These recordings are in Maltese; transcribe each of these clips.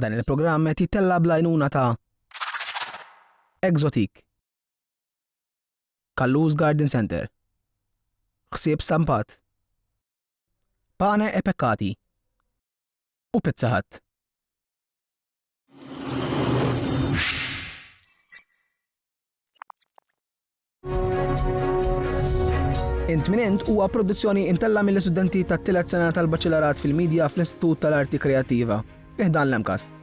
Dan il-programm qed jittella' bl-għajnuna ta' Exotic, Kallus Garden Centre, Ħsieb Stampat, Pane e Peccati u Pizza Hut. Intminent huwa produzzjoni intella mill-istudenti tat-tielet sena tal-Baċelarat fil-Media fl-Istitut tal-Arti Kreattiva, fiħdan l-MCAST.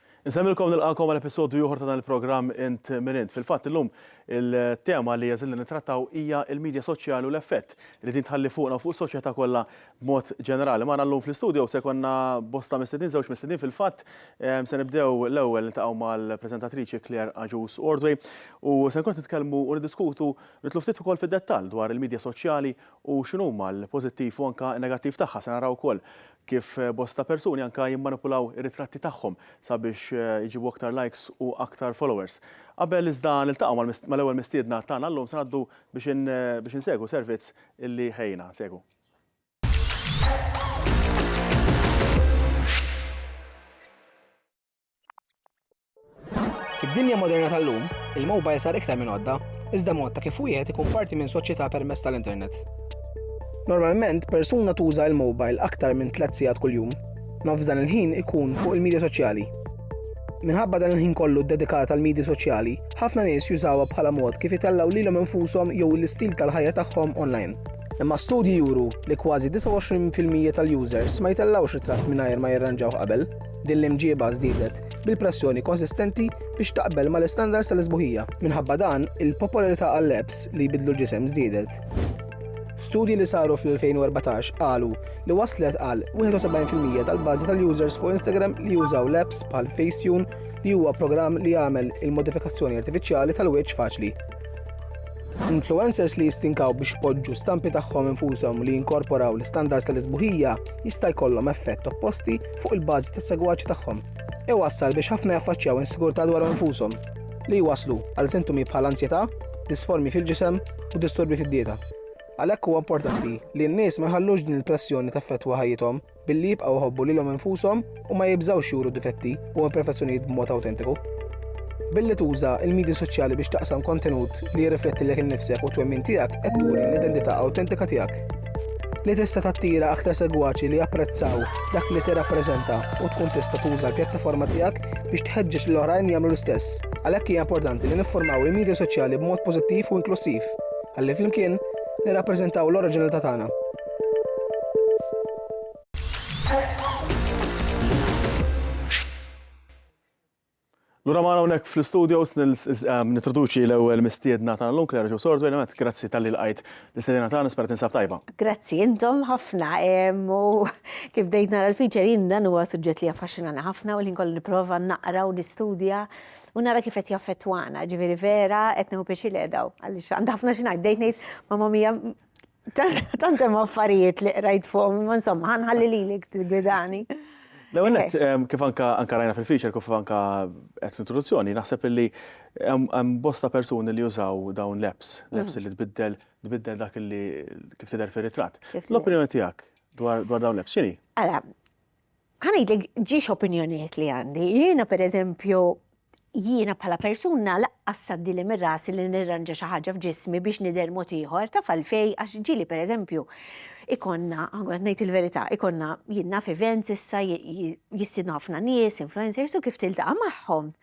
Insemmilkom nilqagħkom għal episodju ieħor ta' dan il-programm Int Min Int. Fil-fatt illum il-tema li jeżilna nittrattaw hija l-midja soċjali u l-effett li din tħalli fuqna u fuq is-soċjetà kollha b'mod ġenerali. Magħna llum fl-istudio se jkollna bosta mistednin, żewġ mistednin fil-fatt. Ehm, se nibdew l-ewwel niltaqgħu mal-preżentatriċi Claire Agius Ordway u se nkun nitkellmu u niddiskutu nitlu ftit ukoll fid-dettall dwar il-midja soċjali u x'inhuma l-pożittiv u anke n-negattiv tagħha. Se naraw ukoll kif bosta persuni anke jimmanipulaw ir-ritratti tagħhom sabiex iġibu aktar likes u aktar followers. Qabel iżda niltaqgħu mal-ewwel mistiedna tagħna llum se ngħaddu biex insegwu servizz illi ħejjina. Nsegwu. Fid-dinja moderna tal-lum, il-mobile sar iktar minn għodda, iżda mod ta' kif wieħed ikun parti minn soċjetà permezz tal-internet. Normalment, persuna tuża l-mobile aktar minn tliet sigħat kuljum. Nofs dan il-ħin ikun fuq il-medja soċjali. Minħabba dan il-ħin kollu ddedikat għal medja soċjali, ħafna nies jużawha bħala mod kif itellgħu lilhom infushom jew l-istil tal-ħajja tagħhom online. Imma studji juru li kważi 29% tal-users ma jtellgħux ritratt mingħajr ma jirranġaw qabel. Din l-imġieba żdiedet bil-pressjoni konsistenti biex taqbel mal-istandards tal-isbuħija. Minħabba dan, il-popolarità għall-apps li jbidlu l-ġisem żdiedet. Studji li saru fl-2014 qalu li waslet għal 71% tal-bażi tal-users fuq Instagram li jużaw l-apps bħal Facetune li huwa programm li jagħmel il-modifikazzjoni artifiċjali tal-wiċċ faċli. Influencers li jistinkaw biex poġġu stampi tagħhom infushom li jinkorporaw l-istandards tal-isbuħija jista' jkollhom effett opposti fuq il-bażi tas-segwaċi tagħhom, iwassal biex ħafna jaffaċċjaw insigurtà dwar infushom, li jwasslu għal sintomi bħal anzjetà, disformi fil-ġisem u disturbi fid-dieta. Għalhekk huwa importanti li n-nies ma jħallux din il-pressjoni taffettwa ħajjithom billi jibqgħu jħobbu lilhom infushom u ma jibżgħux juru difetti u imperfezzjonijiet b'mod awtentiku. Billi tuża il-medji soċjali biex taqsam kontenut li jirriflettilek innifsek u twemmin tiegħek qed turi l-identità awtentika tiegħek. li tista' tattira aktar segwaċi li japprezzaw dak li tirrappreżenta u tkun tista' tuża l-pjattaforma tiegħek biex tħeġġeġ lil oħrajn jagħmlu l-istess. Għalhekk hija importanti li niffurmaw il-midja soċjali b'mod pożittiv u inklussiv, ħalli flimkien nirrappreżentaw l-oriġinalità tagħna. Lura magħna hawnhekk fl-istudios nittroduċi l-ewwel mistiedna tagħna llum, Claire Joe Sordway. Newent, grazzi talli lqajt l-istedina tagħna, nispera tinsab tajba. Grazzi, intom ħafna. U kif bdejt nara l-feature jien dan huwa suġġett li jaffaxxinani ħafna u l-ħin kollu nipprova naqra u nistudja u nara kif qed jaffettwana. Ġifieri vera qed nieħu pjaċir li qiegħda hawn għaliex għandi ħafna xi ngħid. Bdejt ngħid, Mamma Mia, Tant hemm affarijiet li qrajt fuqhom, imma insomma, ħanħalli lilek tigwidani. L-ewwel qed eh. kif anka anka rajna fil-feature kif anka qed fl-introduzzjoni, naħseb illi hemm bosta persuni li jużaw dawn l-apps, l-apps mm. li tbiddel tbiddel dak li kif tidher fir-ritratt. L-opinjoni tiegħek dwar dawn l-apps x'inhi? Ara, Ħa ngħidlek ġie x'opinjonijiet li għandi. Jiena pereżempju, jiena bħala persuna laqqas tgħaddili minn rasi li nirranġa xi ħaġa f'ġismi biex nidher mod ieħor, taf għalfejn? Għax ġieli pereżempju ikollna, qed ngħid il-verità, ikollna jien naf events issa jistiednu ħafna nies, influencers u kif tiltaqa' magħhom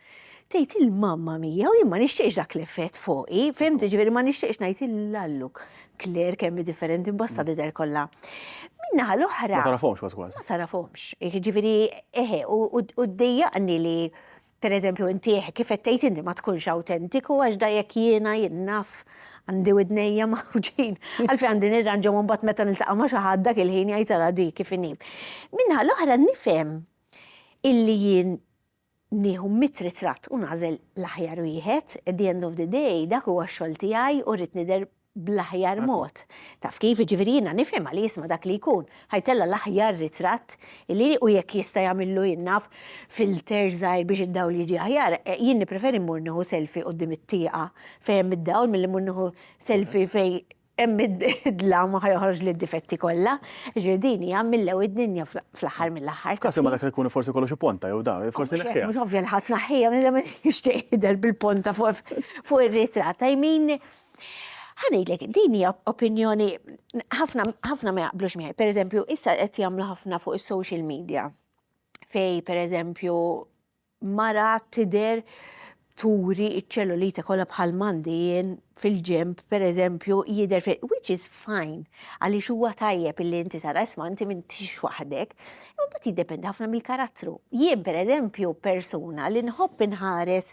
Tgħid il-mamma mija u jien ma nixtieqx dak l-effett fuqi, fimt, ġifieri ma nixtieqx ngħid il-lallu Claire kemm hi differenti mbasta tidher kollha. Min-naħa l-oħra. Ma tarafhomx kważi kważi. Ma tarafhomx. Ġifieri eħe u ddejjaqni li pereżempju inti kif qed tgħid inti ma tkunx awtentiku għax da jekk jiena jien naf għandi widnejja mgħawġin għalfejn għandi nirranġhom u mbagħad meta niltaqa' ma' xi ħadd dak il-ħin jgħid ara di kif inhi. Min-naħa l-oħra nifhem illi jien nieħu mitt ritratt u nagħżel l-aħjar wieħed, at the end of the day dak huwa x-xogħol tiegħi u rrid nidher bl-aħjar mod. Taf kif, jiġifieri jiena nifhem għaliex ma' dak li jkun ħa jtella' l-aħjar ritratt li u jekk jista' jagħmillu jien naf filter żgħir biex id-dawl jiġi aħjar, jien nippreferi mmur nieħu selfie quddiem it-tieqa fejn hemm id-dawl milli mmur nieħu selfie fejn Hemm id-dlam ma ħa joħroġli d-difetti kollha. Jiġifieri din hija millew id-dinja fl-aħħar mill-aħħar. F'każ imma dak li jkun forsi jkollu xi ponta jew da, forsi neħħiha. Mhux ovvja li ħa tneħħiha, min dejjem jixtieq jidher bil-ponta fuq ir-ritratt. I mean, ħa ngħidlek, din hija opinjoni ħafna ma jaqblux miegħi. Pereżempju, issa qed jagħmlu ħafna fuq is-social media fejn pereżempju mara tidher turi ċ-ċellulite kollha bħal m'għandi jien fil-ġenb pereżempju jidher fil which is fine għaliex huwa tajjeb illi inti tara isma' inti m'intix waħdek. Imma mbagħad jiddependi ħafna mill-karattru. Jien pereżempju persuna li nħobb inħares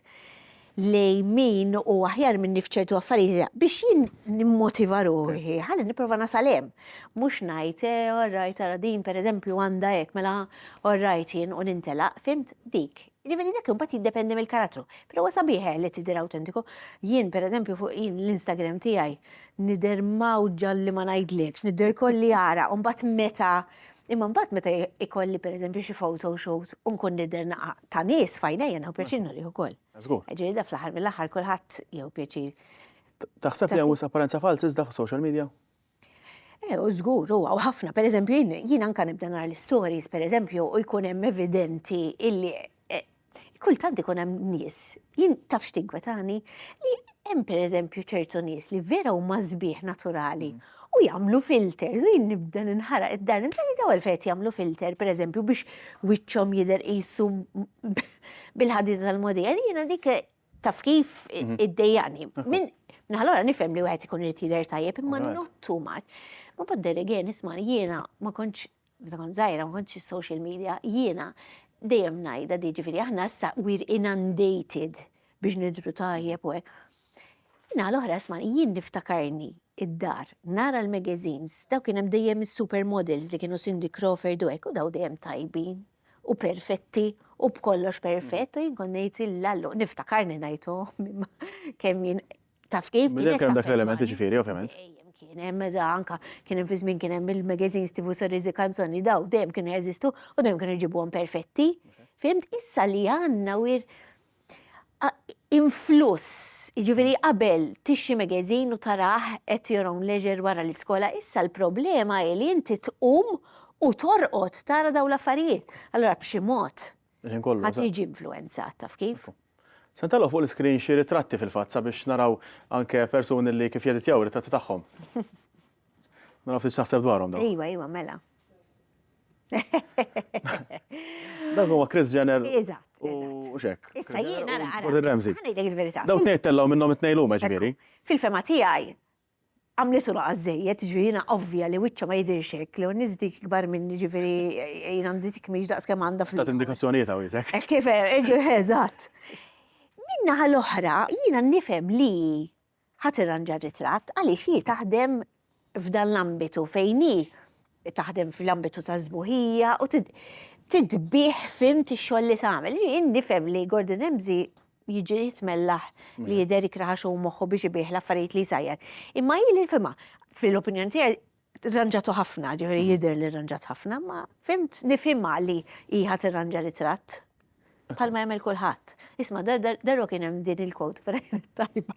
li min u aħjar minni fċertu affarijiet biex jien nimmotiva ruħi, ħalli niprofa nasal hemm. Mhux ngħid, eh, all right, ara din pereżempju għandha hekk, mela all right jien u nintelaq, fimt dik. Ġifieri dak imbagħad jiddependi mill-karattru. Però huwa sabiħ eh, li tidher awtentiku. Jien pereżempju fuq jien l-Instagram tiegħi nidher mawġa li ma ngħidlekx, nidher kolli ara, u mbagħad meta Imma mbagħad meta ikolli pereżempju xi photo shoot u nkun nidher naqa' ta' nies f'għajnejja nieħu pjaċir nurih ukoll. Żgur. Ġifieri da fl-aħħar mill-aħħar kulħadd jieħu pjaċir. Taħseb li hemm wisq apparenza falz iżda fis-social media? Eh, u żgur huwa u ħafna. Pereżempju jien anke nibda nara l-istories pereżempju u jkun hemm evidenti illi Kultant ikun hemm nies, jien taf x'tinkwetani, li hemm pereżempju ċertu nies li vera huma sbieħ naturali mm. u jagħmlu filter, u jien nibda ninħaraq id-dar, nibda li dawl fejt jagħmlu filter pereżempju biex wiċċhom jidher qisu bil-ħadida tal-modija, jiena dik taf kif mhm. id-dejjani. Min naħlora nifhem li wieħed ikun irid jidher tajjeb imma not too much. Ma badder again isma' jiena ma kontx Meta kont żgħira ma kontx is-social media, jiena dejjem ngħidha di, ġifieri aħna issa we're inundated biex nidhru tajjeb u hekk. Min-naħa l-oħra ismagħni, jien niftakarni id-dar nara l-magazines, dawk kien hemm dejjem is-supermodels li kienu Cindy Crawford u hekk u daw dejjem tajbin u perfetti u b'kollox perfett u jien kont ngħid, Llallo, niftakarni ngħid, oh, kemm jien Taf kif? Minn hemm kien hemm dak l-element jiġifieri, ovvjament. Kien hemm meta anka kien hemm fi żmien kien hemm il-magazines tifu sorriżi kanzoni daw dejjem kienu jeżistu u dejjem kienu jġibuhom perfetti. Fimt issa li għandna wir influss, jiġifieri qabel tixxi magazine u tarah at your own leisure wara l-iskola, issa l-problema hi li inti tqum u torqod tara dawn l-affarijiet. Allura b'xi mod Il-ħin kollu. Ħadd jiġi influwenzat, taf kif? Se ntelgħu fuq l-iskrin xi ritratti fil-fatt sabiex naraw anke persuni li kif jeditjaw ritratti tagħhom. Naraw ftit x'naħseb dwarhom dawn. Iva, iva, mela. Dak huwa Chris Jenner. Eżatt. U xek. Issa jiena nara. Gordon Ramsay. Ħanejtek il-verità. Daw tnejn tellgħu minnhom it-tnejn huma ġifieri. Fil-fema tiegħi, għamlitu naqas żejjed, jiġifieri jiena ovvja li wiċċha ma jidhirx hekk, li Eunice dik ikbar minni, jiġifieri jien għandi dik mhix daqs kemm għandha fl-. Tat indikazzjonijiet Għawiesek. Hekk kif, eżatt. Min-naħa l-oħra, jiena nifhem li hi ħa tirranġa r-ritratt għaliex hi taħdem f'dan l-ambitu fejn hi taħdem fl-ambitu tas-sbuħija u titbiegħ fimt ix-xogħol li tagħmel. Jien nifhem li Gordon Ramsay jiġi jitmellaħ li jidher ikraħax u moħħu biex ibih l-affarijiet li jsajjar. Imma hi li nfhimha, fil-opinjoni tiegħi rranġatu ħafna, ġifieri jidher li rranġat ħafna, ma fimt nifhimha li hi ħadd irranġa ritratt. Bħalma jagħmel kulħadd. Isma' darba kien hemm din il-quote ferajn tajba.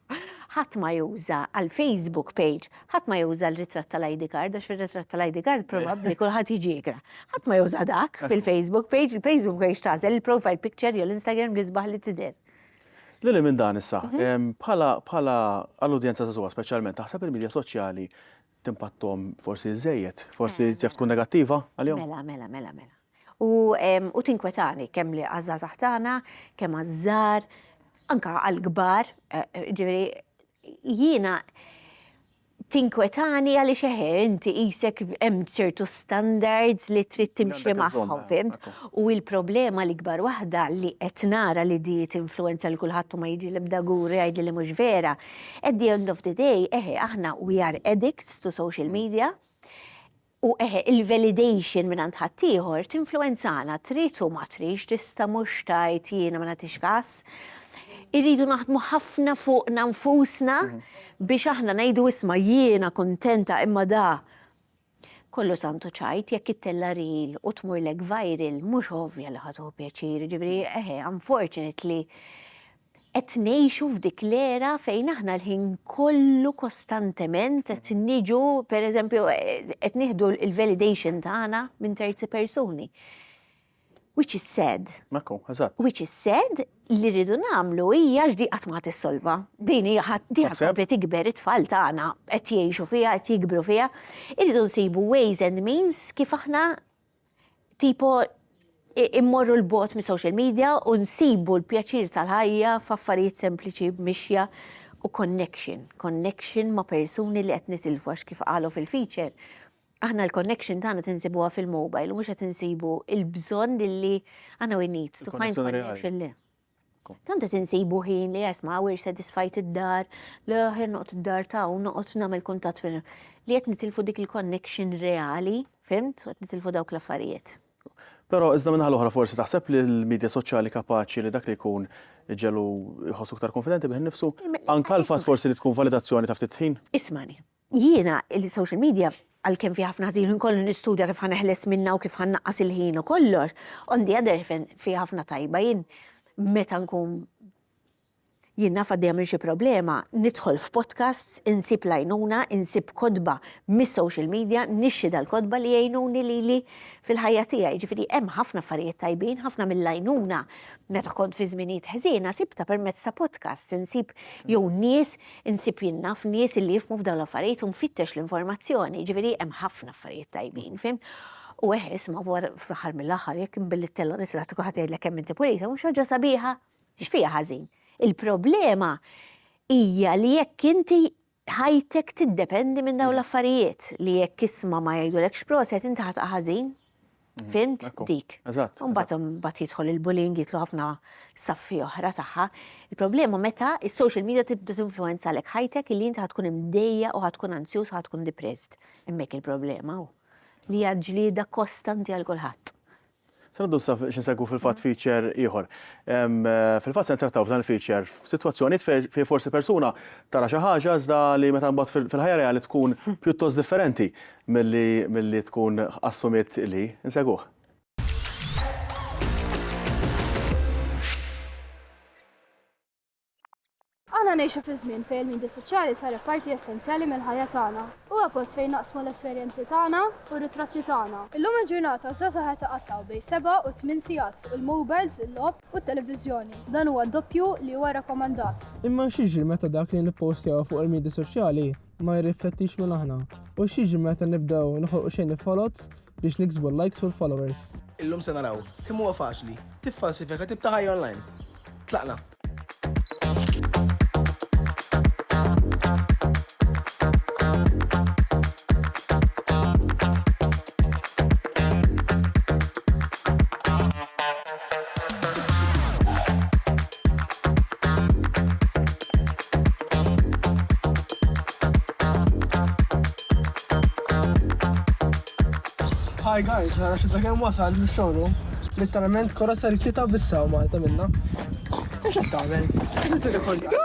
Ħadd ma juża għal Facebook page, ħadd ma juża l-ritratt tal-ID card għax fir-ritratt tal-ID card probabbli kulħadd jiġi jikra. Ħadd ma juża dak fil-Facebook page, il-Facebook page tagħżel il-profile picture jew l-Instagram l-isbaħ li tidher. Lil hinn minn dan issa, bħala għall-udjenza żagħżugħa speċjalment, taħseb il-midja soċjali timpatthom forsi żejjed, forsi taf tkun negattiva għalihom. Mela, mela, mela, mela. U tinkwetani kemm li għażażaħ tagħna, kemm għażżar, anka għal-kbar, eh, eh, ġifieri jiena tinkwetani għaliex eħe, inti isek hemm ċertu standards li trid timxi magħhom, fimt? U il-problema li kbar waħda li qed nara li di tinfluenza li kulħadd ma jiġi l-ebda guri għajdi li mhux vera, At the end of the day, eħe, aħna we are addicts to social media u eħe, il-validation mingħand ħaddieħor tinfluwenzana, trid u ma tridx, tista' mhux tgħid jiena ma nagħtix kas. Irridu naħdmu ħafna fuqna nfusna biex aħna ngħidu isma' jiena kuntenta imma da Kollu santu ċajt, jekk ittella' reel u tmurlek viral, mhux ovvja li ħa tieħu pjaċir, jiġifieri eħe, unfortunately, qed ngħixu f'dik l-era fejn aħna l-ħin kollu kostantement qed niġu, pereżempju, qed nieħdu l-validation tagħna minn terzi persuni. Which is sad. Ekku, eżatt. Which is sad, li rridu nagħmlu hija x'di qatt ma ħa tissolva. Din hija ħa tkompli tikber, it-tfal tagħna qed jgħixu fiha, qed jikbru fiha. Irridu nsibu ways and means kif aħna tipo immorru l-bogħod mis-social media u nsibu l-pjaċir tal-ħajja f'affarijiet sempliċi b'mixja u connection. Connection ma' persuni li qed nitilfu għax kif qalu fil-feature, Aħna l-connection tagħna tinsibuha fil-mobile u mhux qed insibu l-bżonn li aħna we need to find connection le. Tant qed insibu ħin li esma' we're satisfied id-dar, le aħjar noqgħod id-dar ta' u noqgħod nagħmel kuntatt fil li qed nitilfu dik il-connection reali, fhimt, u qed nitilfu dawk l-affarijiet. Però iżda min-naħa l-oħra forsi taħseb li l-midja soċjali kapaċi li dak li jkun iġegħlu jħossu iktar kunfidenti bih innifsu? Anke l-fatt forsi li tkun validazzjoni ta' ftit ħin? Ismagħni, Jiena, il-social media, għalkemm fiha ħafna ħżin u nkollu nistudja kif ħa neħles minnha u kif ħa nnaqqas il-ħin u kollox, on the other hand fiha ħafna tajba. Jien meta nkun jien naf għaddejja minn xi problema, nidħol f'podcasts, insib l-għajnuna, insib kotba mis-social media, nixtri dal-kotba li jgħinuni lili fil-ħajja tiegħi. Jiġifieri hemm ħafna affarijiet tajbin, ħafna mill-għajnuna meta kont fi żminijiet ħżiena sibtha permezz ta' podcasts, insib jew nies Insib jien naf nies illi jifhmu f'dawn l-affarijiet u nfittex l-informazzjoni, jiġifieri hemm ħafna affarijiet tajbin, fimt? U eħ, isma' wara fl-aħħar mill-aħħar jekk inbilli t-tella nisraħ ti kulħadd jgħidlek kemm inti pulita mhux ħaġa sabiħa? X'fiha ħażin? Il-problema hija li jekk inti ħajtek tiddependi minn dawn l-affarijiet li jekk isma' ma jgħidulekx proset inti ħa taqa' ħażin. Fimt? Dik. Eżatt. Mbagħad mbagħad jidħol il-bullying jitlu ħafna saffi oħra tagħha. Il-problema meta is-social media tibda tinfluenza għalek ħajtek li inti tkun imdejja u tkun anzjuż u tkun depressed. Hemmhekk il-problema hu li hija ġlieda kostanti għal kulħadd. Sanaddu sa xinsegwu fil-fat feature ieħor. Fil-fat se ntrattaw f'dan il-feature f'sitwazzjoni fej forsi persuna tara xi ħaġa iżda li meta mbagħad fil-ħajja reali tkun pjuttost differenti. Milli, milli tkun assumiet li, insegwuh. Aħna ngħixu fi żmien fejn il-midja soċjali saret parti essenzjali mill-ħajja tagħna. Huwa post fejn naqsmu l-esperjenzi tagħna u r-ritratti tagħna. Illum il-ġurnata żgħażagħ qed iqattgħu bejn seba' u tmien sigħat fuq il-mowbajls, il-logħob u t-televiżjoni. Dan huwa d-doppju li huwa rakkomandat. Imma x'jiġri meta dak li nippostew fuq il-midja soċjali ma jirriflettix minn aħna. U x'jiġri meta nibdew noħolqu xejn il-foloz biex niksbu l-likes u l-followers? Illum se naraw kemm huwa faċli tiffalsifika tip ta' ħajja online. Tlaqna! Hi guys, għana xibda kem wasal biex xogħlu. Literalment kora ser kita bissa u Malta minna. Mux għat tagħmel. Inti rikorda.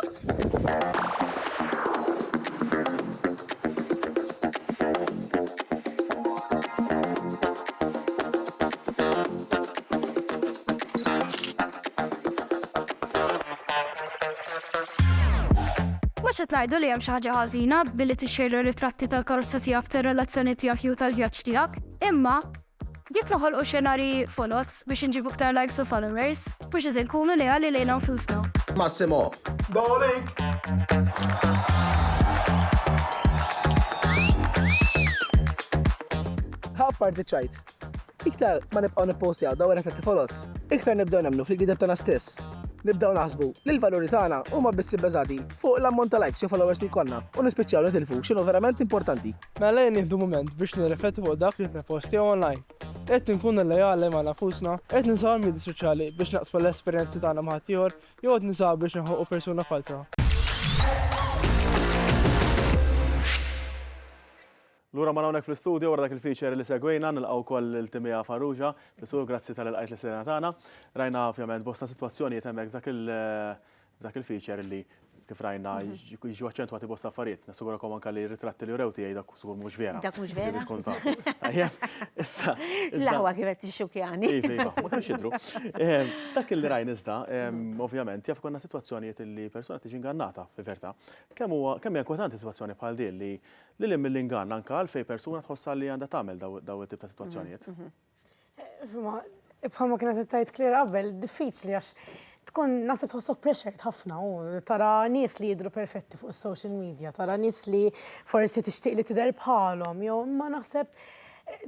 Mhux qed ngħidu li hemm xi ħaġa ħażina billi tixxejjer ritratti tal-karozza tiegħek, tar-relazzjoni tiegħek jew tal-vjaġġ tiegħek, imma jekk noħolqu xenarji foloz biex inġibu iktar likes u followers, mhux qed inkunu leali lejna nfusna. Massimo. Apparti ċ-ċajt, Iktar ma nibqgħu nippostjaw dawn ir-ritratti foloz, iktar nibdew nemmnu fil-gideb tagħna stess. Nibdew naħsbu li l-valuri tagħna huma biss ibbeżati fuq l-ammont ta' likes jew followers li jkollna u nispiċċaw nitilfu x'inhu verament importanti. Mela ejja nieħdu mument biex nirriflettu fuq dak li qed nippostjaw online. Qed inkunu leali ma' nafusna? Qed nużaw il-midja soċjali biex naqsmu l-esperjenzi tagħna ma' ħaddieħor jew qed nużawha biex inħonqu persuna falza? Lura magħna hawnhekk fl-istudju wara dak il-feature li segwejna, nilqgħu wkoll lil Timea Farrugia. Pisu, grazzi talli lqajt l-istedina tagħna. Rajna ovvjament bosta sitwazzjonijiet hemmhekk f'dak il f'dak il-feature li kif rajna jiġu aċċentwati bosta affarijiet. Nassigurakom anke li r-ritratti li wrew tiegħi dak żgur mhux vera. Dak mhux vera. Biex tkunu tafu. Tajjeb. Issa. L-aħwa kienet tixxukjani. Iva, iva. Ma kinux jidhru. Dak li rajna iżda, ovvjament, jaf konna sitwazzjonijiet li persuna tiġi ingannata fil-verità. Kemm huwa kemm hija inkwetanti sitwazzjoni bħal din li Lil hinn mill-ingann, anke għal fejn persuna tħossha li għandha tagħmel dawn it-tip ta' sitwazzjonijiet. Bħalma kienet qed tgħid Claire qabel, diffiċli għax tkun naħseb tħossok pressured ħafna u tara nies li jidhru perfetti fuq is-social media, tara nies li forsi tixtieq li tidher bħalhom, jew imma naħseb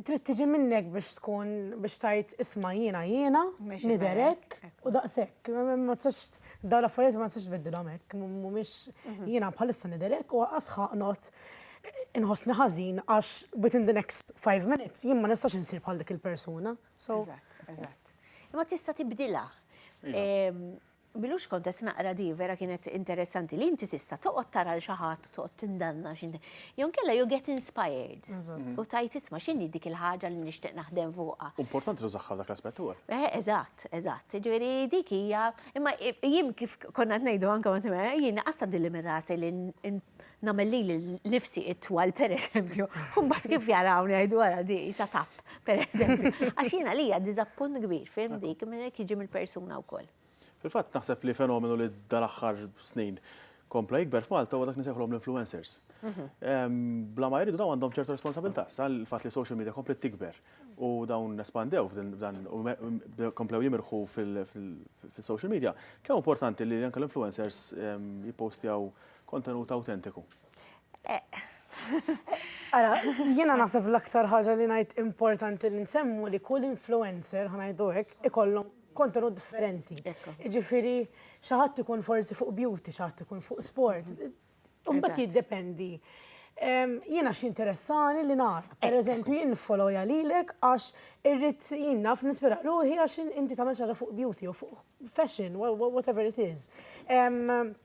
trid tiġi minnek biex tkun biex tgħid isma' jiena jiena, nidherek u daqshekk. Ma tistax Dawn l-affarijiet ma nistax nbiddilhom hekk, mhumiex jiena bħalissa nidher hekk u qas ħaqnot inħossni ħażin għax within the next five minutes jien ma nistax insir bħal dik il-persuna. Eżatt, eżatt. Imma tista' tibdilha. Iva. Milux kont qed naqra di vera kienet interessanti li inti tista' toqgħod tara l xi ħadd toqgħod tindanna xi jew inkella you get inspired. U tajt isma' x'inhi dik il-ħaġa li nixtieq naħdem fuqha. Importanti tużaħħa dak l-aspett ukoll. Eh, eżatt, eżatt. Ġifieri dik hija, imma jien kif konna ngħidu anke ma' timera, jien qas tgħaddilli minn rasi li nagħmel lili nifsi itwal pereżempju, u mbagħad kif jarawni jgħidu ara di sa tap, pereżempju. Għax jiena lija diżappunt kbir, fim dik, minn hekk jiġi mill-persuna wkoll. Fil-fatt naħseb li fenomenu li dal-aħħar snin kompla jikber f'Malta huwa dak nisejħulhom l-influencers. Bla ma jridu dawn għandhom ċertu responsabilità, sal fatt li social media komplet tikber u dawn nespandew f'dan u komplew jimirħu fil-social media. Kemm importanti li anke l-influencers jippostjaw kontenut autentiku? Ara, jiena naħseb l-aktar ħaġa li ngħid importanti li nsemmu li kull influencer ħanajdu hekk ikollhom kontenut differenti. Jiġifieri xi ħadd ikun forsi fuq beauty, xi ħadd ikun fuq sport. Imbagħad jiddependi. Jiena x'interessani li nagħraf. Pereżempju jien niffolowja lilek għax irrid jien naf nispira ruħi għax inti tagħmel xi ħaġa fuq beauty jew fuq fashion, whatever it is.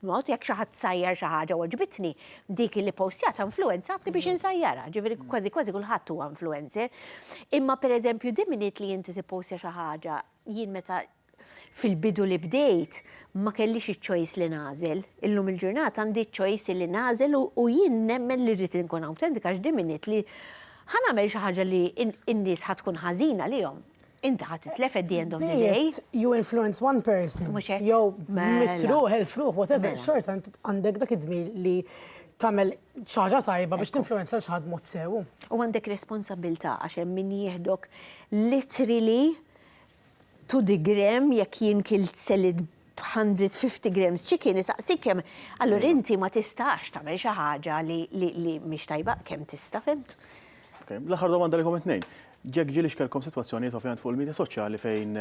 Mod, jekk xi ħadd sajjar xi ħaġa u għoġbitni, dik li ppostjatha influwenzatni biex insajjarha, ġifieri kważi kważi kulħadd huwa influencer. Imma pereżempju the minute li inti tippostja xi ħaġa, jien meta fil-bidu li bdejt ma kellix iċ-choice li nagħżel. Illum il-ġurnata għandi ċ-choice li nagħżel u jien nemmen li rrid inkun awtentika għax the minute li ħa nagħmel xi ħaġa li n-nies ħa tkun ħażin għalihom, Inta ħat titlef at the end of the day. You influence one person. Jow, mela. mitruħ, il-fruħ, whatever, mela. xort għandek dak id-dmi li tamel ċaġa tajba biex tinfluenza l-ċaħad mod sewu. U għandek responsabilta għaxem min jihdok literally to the gram jek jien kilt selit 150 grams chicken isaqsik kemm allura inti ma tistax tagħmel xi ħaġa li li mhix tajba kemm tista' fhimt? L-aħħar domanda għalikom it-tnejn. Jekk ġieli x'kellkom sitwazzjonijiet ovvjament fuq il-midja soċjali fejn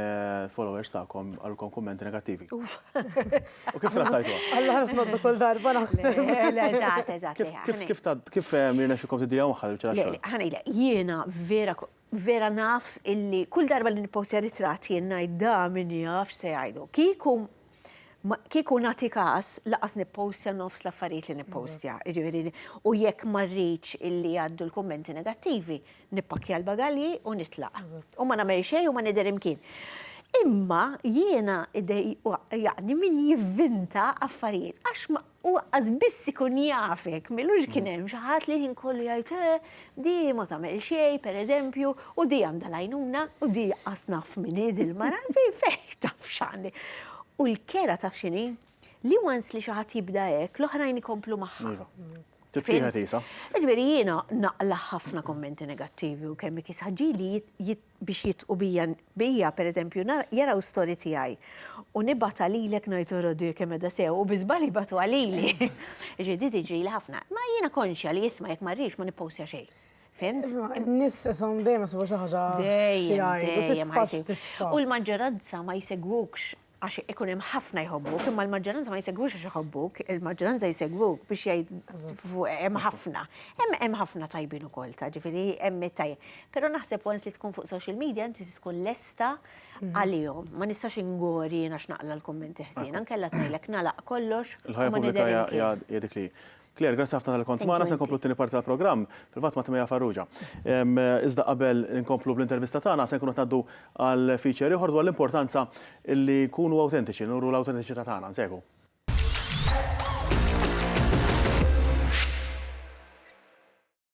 followers tagħkom qalulkom kummenti negattivi. U kif trattajtuha? Alla ħares noddu kull darba naħseb. Eżatt, eżatt. Kif kif kif ta' kif jirnexxilkom tidiljaw magħha l-biċċa tax-xogħol? Ħa ngħidlek, jiena vera Vera naf illi kull darba li nippostja ritratt jien ngħid da min jaf x'se jgħidu. Kieku kieku nagħti każ laqas nippostja nofs l-affarijiet li nippostja. Jiġifieri u jekk ma rridx illi jgħaddu l-kummenti negattivi, nippakkja l-bagalji u nitlaq. U ma nagħmel xejn u ma nidher imkien. Imma jiena jaqni min jivvinta affarijiet għax U aqqas biss ikun jafek, m'ilux kien hemm xi ħadd li l-ħin kollu jgħid, eh, di ma tagħmel xejn, pereżempju, u di għandha l-għajnuna, u di aqqas naf min hi dil-mara, fejn taf x'għandi. U l-kera taf x'inhi? Li once li xi ħadd jibda hekk, l-oħrajn ikomplu magħha. Iva. Tittieħed isa. Jiġifieri jiena naqla' ħafna kummenti negattivi u kemm ikisha ġieli biex jitqu bija, bija, per eżempju, nara, jaraw story tiegħi. U nibgħatha lilek ngħid ara di kemm qiegħda sew u bi żball jibgħatuha lili. Ġifieri di tiġrili ħafna. Ma jiena konxja li isma' jekk ma rridx ma nippostja xejn. Fhimt? Isma', in-nies ishom dejjem isibu xi ħaġa xi jgħidu, titfa' x'titfa'. U l-maġġoranza ma jsegwukx għax ikun hemm ħafna jħobbuk, imma l-maġġoranza ma jsegwux għax iħobbuk, il-maġġoranza jsegwuk biex jgħid hemm ħafna. Hemm ħafna tajbin ukoll ta' ġifieri hemm tajjeb. Però naħseb once li tkun fuq social media inti tkun lesta għalihom. Ma nistax ingori jiena x'naqla l-kummenti ħżiena, nkella tgħidlek nagħlaq kollox. Il-ħajja pubblika hija dik li hi. Claire, grazzi ħafna tal-li kont magħna, se nkomplu t-tieni parti tal-programm, fil-fatt ma' Timea Farrugia. Iżda qabel inkomplu bl-intervista tagħna se nkunu qed ngħaddu għal feature ieħor dwar l-importanza li nkunu awtentiċi, li nuru l-awtentiċità tagħna. Nsegwu.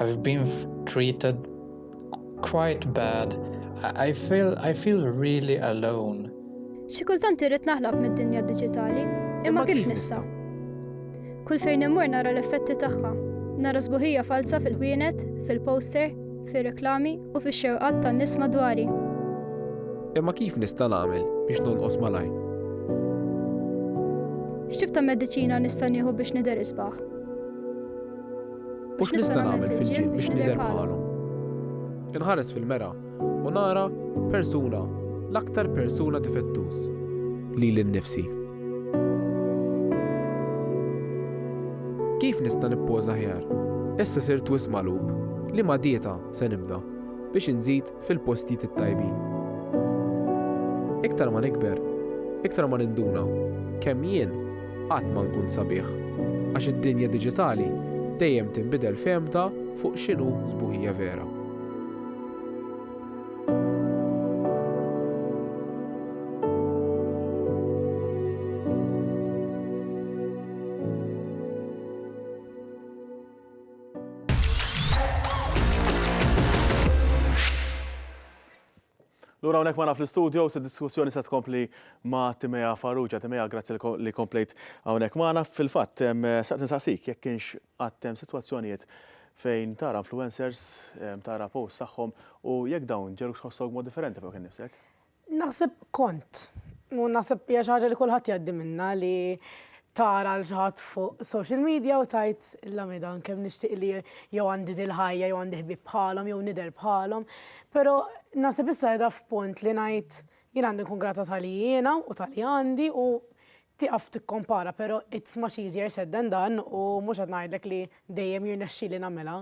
I've been treated quite bad. I feel, I feel really alone. Xi kultant irrid naħlab mid-dinja diġitali, imma kif nista'? Kull fejn immur nara l-effetti tagħha. Nara sbuħija falza fil-ħwienet, fil-poster, fir-reklami u fix-xewqat tan-nies madwari. Imma kif nista' nagħmel biex nonqos malaj? X'tib ta' mediċina nista' nieħu biex nidher isbaħ? U x'nista' nagħmel fil-ġim biex nidher bħalhom? Inħares fil-mera u nara persuna l-aktar persuna difettuż li l-nifsi. Kif nista' nippoża ħjar? Issa sirt wisq magħlub li ma dieta se nibda biex inżid fil-postijiet it-tajbin. Iktar ma nikber, iktar ma ninduna kemm jien qatt ma nkun sabiħ, għax id-dinja diġitali dejjem tinbidel fehmta fuq x'inhu sbuħija vera. Lura unek ma naf l-studio, se diskussjoni se tkompli ma Timea Farrugia. Timea, grazzi li komplejt unek ma naf fil-fat, saqt nsaqsik, jek kienx għattem situazzjonijiet fejn tara influencers, tara post saħħom u jek dawn ġerux ħossog mod differenti fuq kien nifsek? Naħseb kont. U naħseb hija xi ħaġa li kulħadd jgħaddi minnha li tara l xi ħadd fuq social media u tgħid illa midan kemm nixtieq li jew għandi dil-ħajja jew għandi ħbieb bħalhom jew nidher bħalhom. Però naħseb issa qiegħda f'punt li ngħid jien għandi nkun grata ta' li jiena u ta' li għandi u tieqaf tikkompara però it's much easier said than done u mhux qed ngħidlek li dejjem jirnexxieli nagħmilha.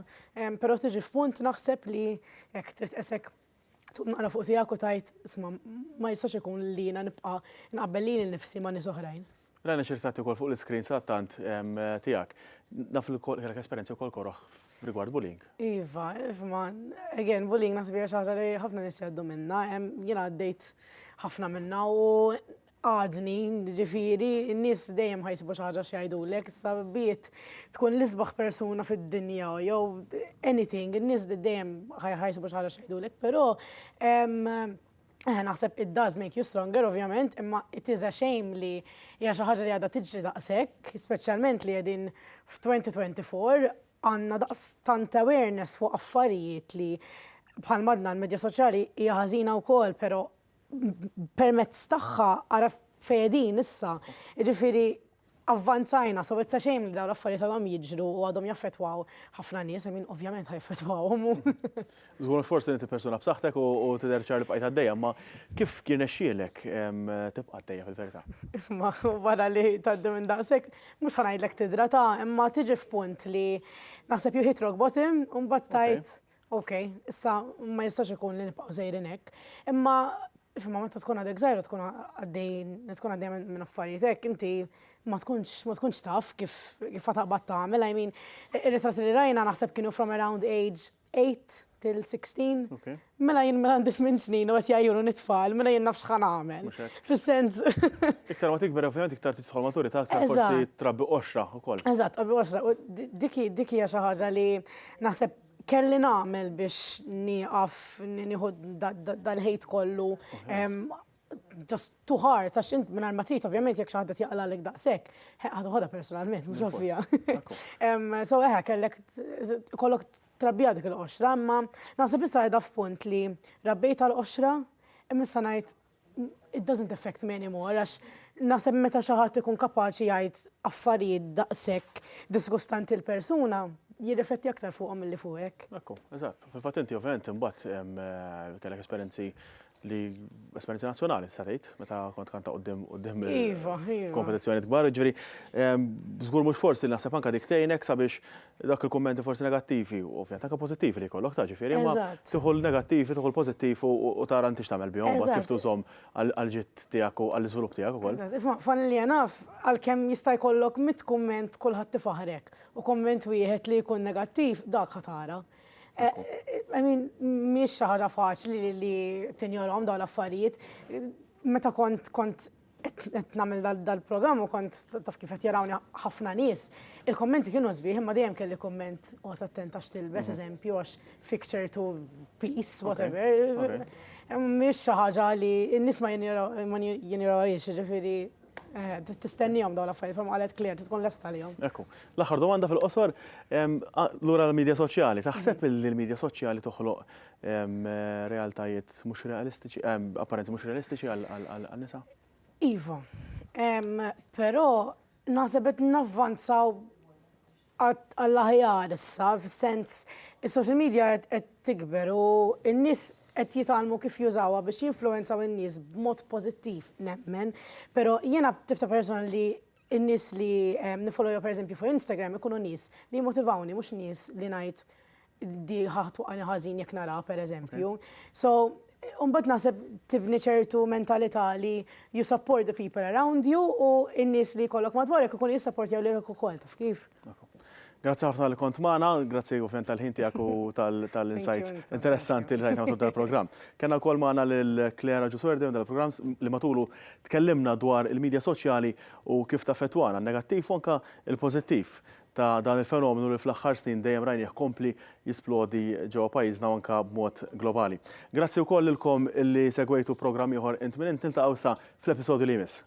Però tiġi f'punt naħseb li hekk trid tqisek Tqum naqra fuq tiegħek u tgħid, 'Isma', ma jistax ikun li jiena nibqa' nqabbel lili nnifsi ma' nies oħrajn. Rajna xi ritratti wkoll fuq l-iscreen sadattant tiegħek. Naf li wkoll kellek esperjenzi wkoll koroh f'rigward bullying. Iva, isma', again, bullying naħseb hija xi ħaġa li ħafna nies jgħaddu minnha. Jiena għaddejt ħafna minnha u għadni, jiġifieri, in-nies dejjem ħa jsibu xi ħaġa x'jgħidulek, issa be it tkun l-isbaħ persuna fid-dinja jew anything, in-nies dejjem ħa jsibu xi ħaġa x'jgħidulek, però naħseb it does make you stronger ovvjament, imma it is a shame li hija xi ħaġa li għadha tiġri daqshekk, speċjalment li qegħdin f'2024, għandna daqstant awareness fuq affarijiet li bħalma għadna l-medja soċjali hija ħażina wkoll, però permezz tagħha għaraf fejn qegħdin issa. Jiġifieri avvanzajna, so it's a shame li dawn l-affarijiet għadhom jiġru u għadhom jaffettwaw ħafna nies, I mean ovvjament ħajaffettwawhom. Żgur forsi inti persuna b'saħħtek u tidher ċar li bqajt għaddejja, ma kif kien nexxielek tibqa' għaddejja fil-verità? Ma wara li tgħaddi minn daqshekk, mhux ħa ngħidlek tidrata, imma tiġi f'punt li naħseb you hit rock bottom u mbagħad tgħid Ok, issa ma jistax ikun li nibqgħu sejrin hekk. Imma Fimma meta tkun għadek żgħira tkun għaddejn, tkun għaddejn minn affarijiet hekk, inti ma tkunx ma tkunx taf kif kif taqbad tagħmel, I mean, ir-risas li rajna naħseb kienu from around age 8 till 16. Mela jien mela għandi 8 snin u qed jgħajjuru nitfal, mela jien nafx ħan għamel. Fis-sens. Iktar ma tikber ovvjament iktar tidħol maturità aktar forsi trabbi qoxra wkoll. Eżatt, qabbi qoxra. Dik hija xi ħaġa li naħseb kelli nagħmel biex nieqaf nieħu dal-ħejt kollu just too hard, għax int minn ma trid, ovvjament jekk xaħda jaqla l daqshekk, ħadħodha personalment, mhux ovvija. So eħe, kellek kollok trabbija dik il-qoxra, imma naħseb issa qiegħda f'punt li rabbejt għal qoxra, imma issa ngħid it doesn't affect me anymore, għax naħseb meta xi ħadd ikun kapaċi jgħid affarijiet daqshekk disgustanti l-persuna, jirrifletti aktar fuqhom milli fuqek. Ekku, eżatt. Fil-fatt inti ovvjament imbagħad eh, kellek esperjenzi li esperjenzi nazzjonali sa tgħid meta kont kanta qudiem qudiem eh, iva, iva. kompetizzjoni kbar, ġifieri żgur mhux forsi naħseb anke dik tgħinek sabiex Dawk il-kummenti forsi negattivi, u ovvjament anke pożittivi li jkollok ta' ġifieri, imma tieħu l-negattivi, tieħu l-pożittiv u tara inti x'tagħmel bihom, mbagħad kif tużhom għall-ġid tiegħek u għall-iżvilupp tiegħek ukoll. Familja naf għalkemm jista' jkollok mitt kumment kulħadd ifaħħrek u kumment wieħed li jkun negattiv dak ħa tara. I mean, mhijiex xi ħaġa faċli li tinjorhom dawn l-affarijiet. Meta kont qed nagħmel dal-programm u kont taf kif qed jarawni ħafna nies, il-kommenti kienu sbieħ imma dejjem kelli komment qgħod attent għax tilbes mhm. eżempju għax picture to peace whatever. Mhix xi ħaġa li n-nies ma jinjorawhiex, jiġifieri eh, tistennihom dawn l-affarijiet ma qalet klir tkun lesta lihom. Ekku, l-aħħar domanda fil-qosor lura l-medja soċjali. Taħseb mhm. li l-medja soċjali toħloq realtajiet mhux realistiċi, apparenzi mhux realistiċi għan-nisa? Iva, però naħseb qed navvanzaw għall-aħjar issa, fis-sens is-social media qed tikber u n-nies qed jitgħallmu kif jużawha biex jinfluwenzaw in-nies b'mod pożittiv nemmen, però jiena t-tip ta' persuna li In-nies li nifolloja pereżempju fuq Instagram ikunu nies li jimmotivawni mhux nies li ngħid di ħa twaqqagħni ħażin jekk naraha pereżempju. So, u mbagħad naħseb tibni ċertu mentalità li you support the people around you u n-nies li jkollok madwarek ikunu jissapportjaw lilek ukoll, taf kif? Grazzi ħafna li kont magħna, grazzi ovvjament tal-ħin tiegħek u tal-insights interessanti li tajtna tul tal-programm. Kenna wkoll magħna lil Claire Ġusordi minn dal-programm li matulu tkellimna dwar il-midja soċjali u kif taffettwana, negattiv u anke il-pożittiv ta' dan il-fenomenu li fl-aħħar snin dejjem rajnih kompli jisplodi ġewwa pajjiżna u anke b'mod globali. Grazzi wkoll lilkom li segwejtu programm ieħor Int Min Int niltaqgħu issa fl-episodju li jmiss.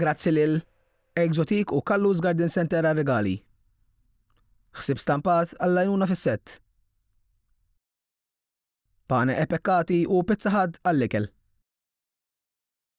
Grazzi lil Exotique u Kallus Garden Center għar-rigali. Ħsieb stampat għall-għajnuna fis-sett. Pane e pekkati u pizza ħadd għall-ikel.